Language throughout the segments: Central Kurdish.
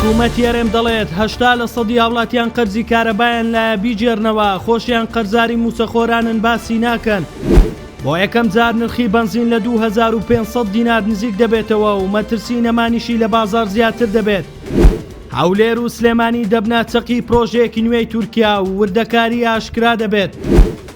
حکومەتی هەرێم دەڵێت، هەشتا لە سەدی هاوڵاتیان قەرزی کارەبایان لایە بیگێرنەوە، خۆشیان قەرزاری مووچەخۆرانن باسی ناکەن. بۆ یەکەم جار نرخی بەنزین لە دوو هەزار و پێنج سەد دینار نزیک دەبێتەوە و مەترسی نەمانیشی لە بازاڕ زیاتر دەبێت. هەولێر و سلێمانی دەبنە چەقی پرۆژەیەکی نوێی تورکیا و وردەکاری ئاشکرا دەبێت.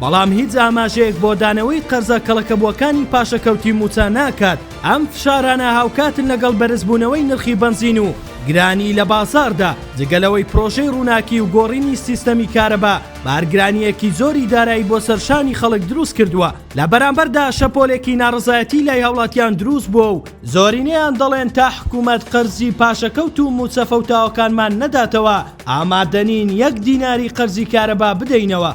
بەڵام هیچ ئاماژەیەک بۆ دانەوەی قەرزە کەڵەکەبووەکانی پاشەکەوتی مووچە ناکات، ئەم فشارانە هاوکاتن لەگەڵ بەرزبوونەوەی نرخی بەنزین و گرانی لە بازاڕدا، جگە لەوەی پرۆژەی ڕووناکی و گۆڕینی سیستەمی کارەبا بارگرانییەکی زۆری دارایی بۆ سەر شانی خەڵک دروست کردووە، لە بەرامبەردا شەپۆلێکی ناڕەزایەتی لای هاوڵاتیان دروست بووە و زۆرینەیان دەڵێن تا حکوومەت قەرزی پاشەکەوت و مووچە فەوتاوەکانمان نەداتەوە، ئامادەنین یەک دیناری قەرزی کارەبا بدەینەوە.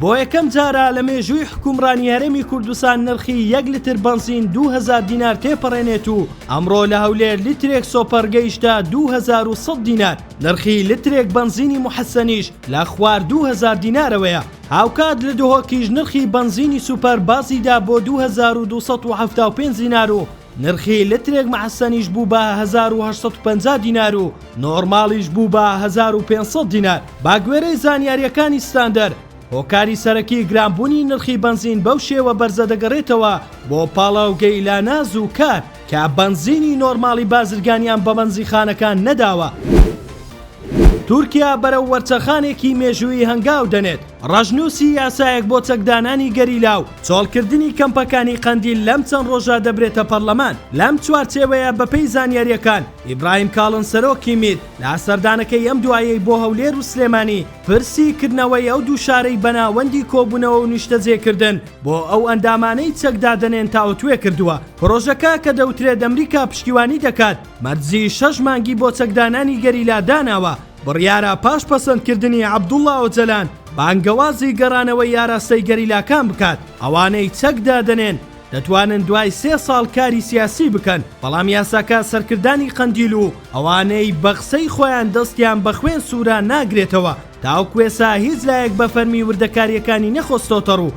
بۆ یەکەم جارە لە مێژووی حکومڕانی هەرێمی کوردستان نرخی یەک لتر بەنزین دوو هەزار دینار تێپەڕێنێت و ئەمڕۆ لە هەولێر لیترێک سۆپەر گەیشتە دوو هەزار و سەد دینار نرخی لترێک بەنزینی موحەسەنیش لە خوار دوو هەزار دینارەوەیە هاوکات لە دهۆکیش نرخی بەنزینی سوپەر بازیدا بۆ دوو هەزار و دوو سەد و حەفتا و پێنج دینار و نرخی لترێک مەعسەنیش بوو بە هەزار و هەشت سەد و پەنجا دینار و نۆرماڵیش بوو بە هەزار و پێنج سەد دینار با گوێرەی زانیارییەکانی ستاندەر هۆکاری سەرەکی گرانبوونی نرخی بەنزین بەو شێوە بەرزە دەگەڕێتەوە بۆ پاڵاوگەی لاناز و کار کە بەنزینی نۆرماڵی بازرگانیان بە بەنزیخانەکان نەداوە. تورکیا بەرەو وەرچەرخانێکی مێژوویی هەنگاو دەنێت، ڕەشنووسی یاسایەک بۆ چەکدانانی گەریلا و چۆڵکردنی کەمپەکانی قەندیل لەم چەند ڕۆژە دەبرێتە پەرلەمان، لەم چوارچێوەیە بەپێی زانیارییەکان ئیبراهیم کاڵن سەرۆکی میت لە سەردانەکەی ئەم دوایەی بۆ هەولێر و سلێمانی پرسی کردنەوەی ئەو دوو شارەی بە ناوەندی کۆبوونەوە و نیشتەجێکردن بۆ ئەو ئەندامانەی چەک دادەنێن تاوتوێ کردووە. پرۆژەکە کە دەوترێت ئەمریکا پشتیوانی دەکات مەرجی شەش مانگی بۆ چەکدانانی گەریلا داناوە، بڕیارە پاش پەسەندکردنی عەبدوڵا ئۆجەلان بانگەوازی گەڕانەوەی ئاراستەی گەریلاکان بکات، ئەوانەی چەک دادەنێن دەتوانن دوای سێ ساڵ کاری سیاسی بکەن، بەڵام یاساکە سەرکردانی قەندیل و ئەوانەی بە قسەی خۆیان دەستیان بە خوێن سوورە ناگرێتەوە، تاوکوێسا هیچ لایەک بە فەرمی وردەکارییەکانی نەخستۆتەڕوو.